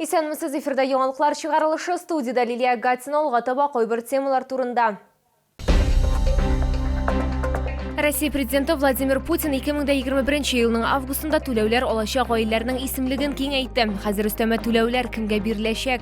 Исәнмесез, эфирда яңалыклар чыгарылышы, студиядә Лилия Гатина, алга таба кайбер темалар турында. Россия президенты Владимир Путин 2021 елның августында түләүләр алачак гаиләләрнең исемлеген киңәйтте. Хәзер өстәмә түләүләр кемгә биреләчәк?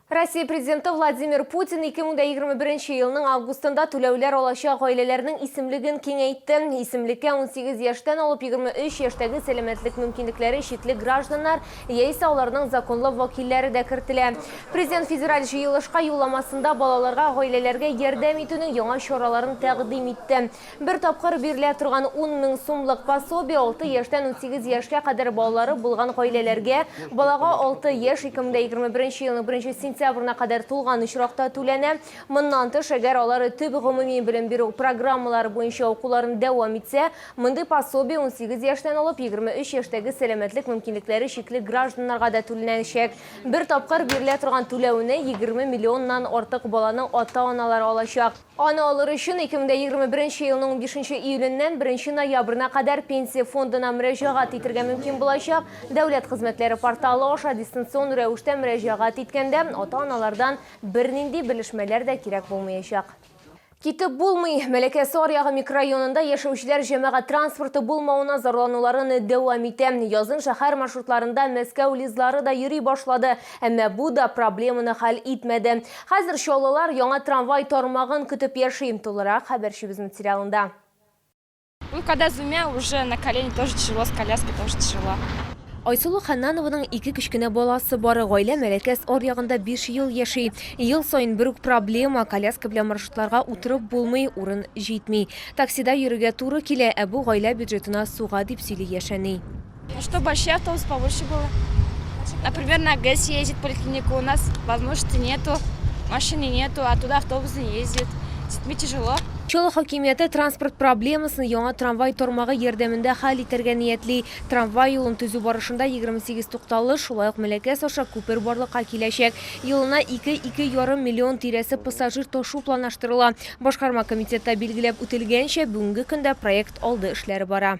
Россия Президенты Владимир Путин 2021 елның августында түләүләр алачак гаиләләрнең исемлеген киңәйтте. Исемлеккә 18 яшьтән алып 23 яшьтәге сәламәтлек мөмкинлекләре чикле гражданнар яисә аларның законлы вәкилләре дә кертелә. Президент федераль җыелышка юлламасында балаларга гаиләләргә ярдәм итүнең яңа чараларын тәкъдим итте. Бер тапкыр бирелә торган 10 мең сумлык пособие 6 яшьтән 18 яшькә кадәр балалары булган гаиләләргә, балага 6 яшь 2021 елның 1 сентябрена кадәр тулган очракта түләнә. Моннан тыш, әгәр алары төп гомуми белем бирү программалары буенча укуларын дәвам итсә, мондый пособие 18 яшьтән алып 23 яшьтәге сәламәтлек мөмкинлекләре чикле гражданнарга да түләнәчәк. Бер тапкыр бирелә торган түләүне 20 миллионнан артык баланың ата-аналары алачак. Аны алыр өчен 2021 нче елның унбишенче июленнән беренче ноябрена кадәр Пенсия фондына мөрәҗәгать итергә мөмкин булачак. Дәүләт хезмәтләре порталы аша дистанцион рәвештә мөрәҗәгать иткәндә, ата-аналардан бернинди белешмәләр дә кирәк булмаячак. Китеп булмый. Мәләкәсе аръягы микрорайонында яшәүчеләр җәмәгать транспорты булмавына зарлануларын дәвам итә. Язын шәһәр маршрутларында Мәскәү ЛИЗлары да йөри башлады. Әмма бу да проблеманы хәл итмәде. Хәзер чаллылар яңа трамвай тармагын көтеп яши. Тулырак хәбәрчебез материалында. Ну когда с двумя уже на колени тоже тяжело с коляской тоже тяжело. Айсылу Хәннанованың ике кечкенә баласы бар. Гаилә Мәләкәс аръягында биш ел яши. Ел саен бер үк проблема, коляска белән маршрутларга утырып булмый, урын җитми. Таксида йөрергә туры килә, ә бу гаилә бюджетына суга, дип сөйли яшь әни. Что большие автобусы побольше было. Например, на ГЭС ездит поликлиника, у нас возможности нету, машины нету, а туда автобус не ездит. С детьми тяжело. Чаллы хакимияте транспорт проблемасын яңа трамвай тормагы ярдәмендә хәл итәргә ниятли. Трамвай юлын төзү барышында 28 тукталыш, шулай ук Меләкәс аша күпер барлыкка киләчәк. Елына 2-2 ярым миллион тирәсе пассажир ташу планлаштырыла. Башкарма комитетта билгеләп үтелгәнчә, бүгенге көндә проект алды эшләре бара.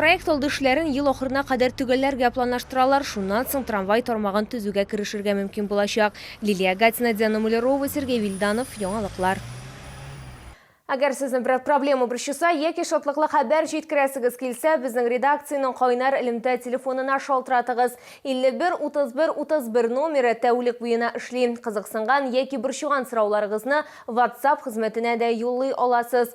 Проект алды эшләрен ел ахырына кадәр төгәлләргә планлаштыралар, шуннан соң трамвай тармагын төзүгә керешергә мөмкин булачак. Лилия Гатина, Диана Мулярова, Сергей Вильданов, Яңалыклар. Әгәр сезне берәр проблема борчыса яки шатлыклы хәбәр җиткерәсегез килсә, безнең редакциянең кайнар элемтә телефонына шалтыратыгыз. 51 31 31 номеры тәүлек буена эшли. Кызыксынган яки борчыган сорауларыгызны WhatsApp хезмәтенә дә юллый аласыз.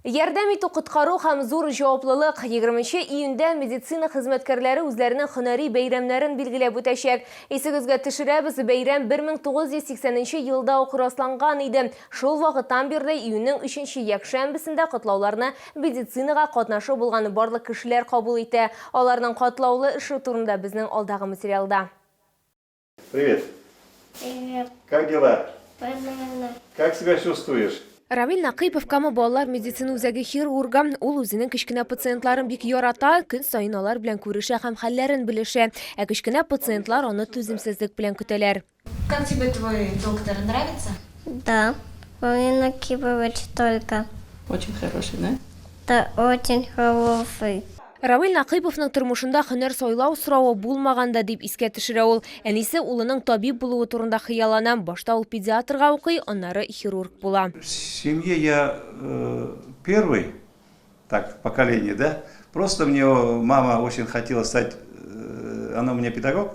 Ярдәм итү коткару һәм зур җаваплылык. Егерменче июньдә медицина хезмәткәрләре үзләренең һөнәри бәйрәмнәрен билгеләп үтәчәк. Исегезгә төшерәбез, бәйрәм 1980 нче елда ук расланган иде. Шул вакыттан бирле июньнең өченче якшәмбесендә котлауларны медицинага катнашы булган барлык кешеләр кабул итә. Аларның катлаулы эше турында безнең алдагы материалда. Привет. Привет. Как дела? Понятно. Как себя чувствуешь? Рамил Нақыйпов Кама балалар медицина үзәге хирургы. Ул үзенең кечкенә пациентларын бик ярата, көн сайын алар белән күрешә һәм хәлләрен белешә. Ә кечкенә пациентлар аны түземсезлек белән көтәләр. Как тебе твой доктор? Нравится? Да. Он не накипывает столько. Очень хороший, да? Да, очень хороший. Равил Накыйповның тормышында һөнәр сайлау соравы булмаган да, дип искә төшерә ул. Әнисе улының табиб булуы турында хыяллана. Башта ул педиатрга укый, аннары хирург була. В семье я первый, так, в поколении, да. Просто мне мама очень хотела стать, она у меня педагог.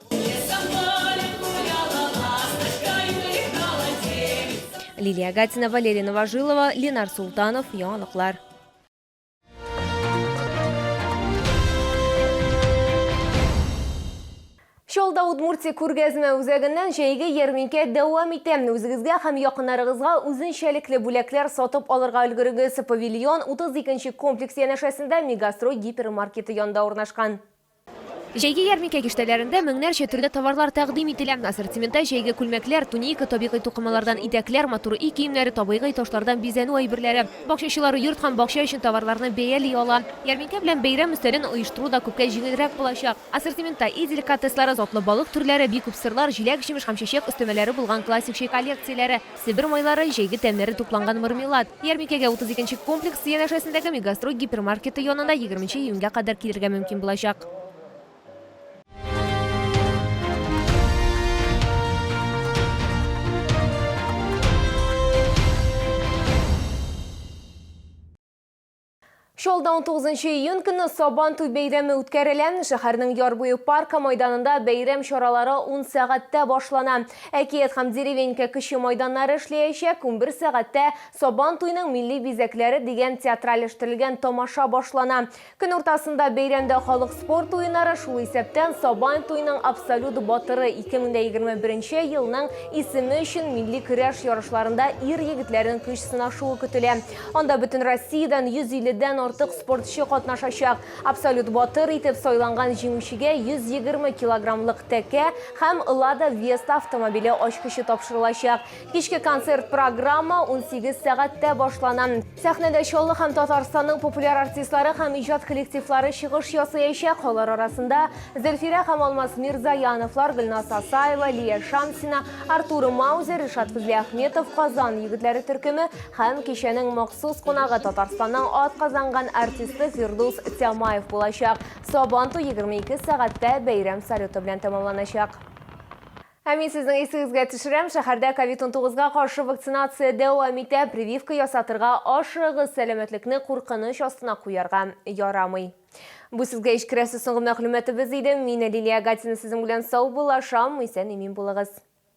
Лилия Гатина, Валерий Новожилова, Ленар Султанов, Яңалыклар. Шолда Удмуртия күргәзмә үзәгеннән җәйге ярминкә дәвам итә. Үзегезгә һәм якыннарыгызга үзенчәлекле бүләкләр сатып алырга өлгерегез. Павильон 32 комплекс янәшәсендә Мегастрой гипермаркеты янында урнашкан. Җәйге ярминкә киштәләрендә меңнәрчә төрле товарлар тәкъдим ителә. Ассортиментта җәйге күлмәкләр, туника, табигый тукымалардан итәкләр, матур өй киемнәре, табыйгый ташлардан бизәнү әйберләре. Бакчачылар йорт һәм бакча өчен товарларны бәяли ала. Ярминкә белән бәйрәм өстәлен оештыру да күпкә җиңелрәк булачак. Ассортиментта өй деликатеслары, затлы балык төрләре, бик күп сырлар, җиләк-җимеш һәм чәчәк өстәмәләре булган классик чәй коллекцияләре, Себер майлары, җәйге тәмнәре тупланган мармелад. Ярминкәгә 32 нче комплекс янәшәсендәге Мегастрой гипермаркеты янында 20 нче июньгә кадәр килергә мөмкин булачак. Чаллыда унтугызынчы июнь көнне Сабан туй бәйрәме үткәрелә. Шәһәрнең Яр буе паркы майданында бәйрәм чаралары ун сәгатьтә башлана. Әкият һәм Деревенька кече майданнары эшләячәк, унбер сәгатьтә Сабан туйның милли бизәкләре дигән театральләштерелгән тамаша башлана. Көн уртасында бәйрәмдә халык спорт уеннары, шул исәптән Сабан туйның абсолют батыры, 2021 елның исеме өчен милли көрәш ярышларында ир-егетләрнең көч сынашуы көтелә. Анда бөтен Россиядән 150 дән артык спортчы катнашачак. Абсолют батыр итеп сайланган җиңүчегә 120 килограммлык тәкә һәм Лада Веста автомобиле ачкычы тапшырылачак. Кичке концерт программа 18 сәгатьтә башлана. Сәхнәдә Чаллы һәм Татарстанның популяр артистлары һәм иҗат коллективлары чыгыш ясыячак. Алар арасында Зөлфирә һәм Алмаз Мирзаяновлар, Гөлназ Асаева, Лия Шамсина, Артур Маузер, Ришат Фәзлиәхметов, Казан егетләре төркеме, Һәм кичәнең махсус кунагы Татарстанның атказанган артисты Фирдус Тямаев булачак. Сабан туй 22 сәгатьтә бәйрәм салюты белән тәмамланачак. Ә мин сезнең исегезгә төшерәм, шәһәрдә COVID-19га каршы вакцинация дәвам итә, прививка ясатырга ашыгыгыз, сәламәтлекне куркыныч астына куярга ярамый. Бу сезгә ич керәсе соңгы мәгълүматыбыз иде. Мин Лилия Гатина сезнең белән саубуллашам, исән-имин булыгыз.